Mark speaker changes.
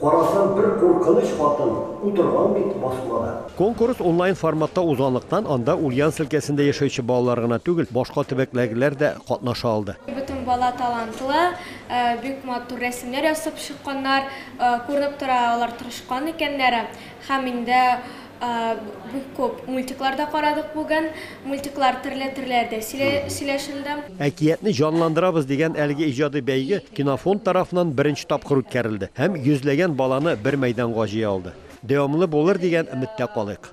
Speaker 1: Карасам, бер куркыныч хатын утырган бит басмада. Конкурс онлайн
Speaker 2: форматта узганлыктан, анда Ульяновск өлкәсендә яшәүче балалар гына түгел, башка төбәкләргеләр дә катнаша алды. Бөтен бала
Speaker 3: талантлы, бик матур рәсемнәр ясап чыкканнар. Күренеп тора, алар тырышкан икәннәр. Һәм инде Бик күп мультиклар да карадык бүген. Мультиклар терле терләр дә сөйләшелде. Әкиятне
Speaker 2: җанландырабыз дигән әлеге иҗади бәйге Кинофонд тарафыннан беренче тапкыр үткәрелде һәм йөзләгән баланы бер мәйданга җыя алды. Дәвамлы булыр дигән өметтә калыйк.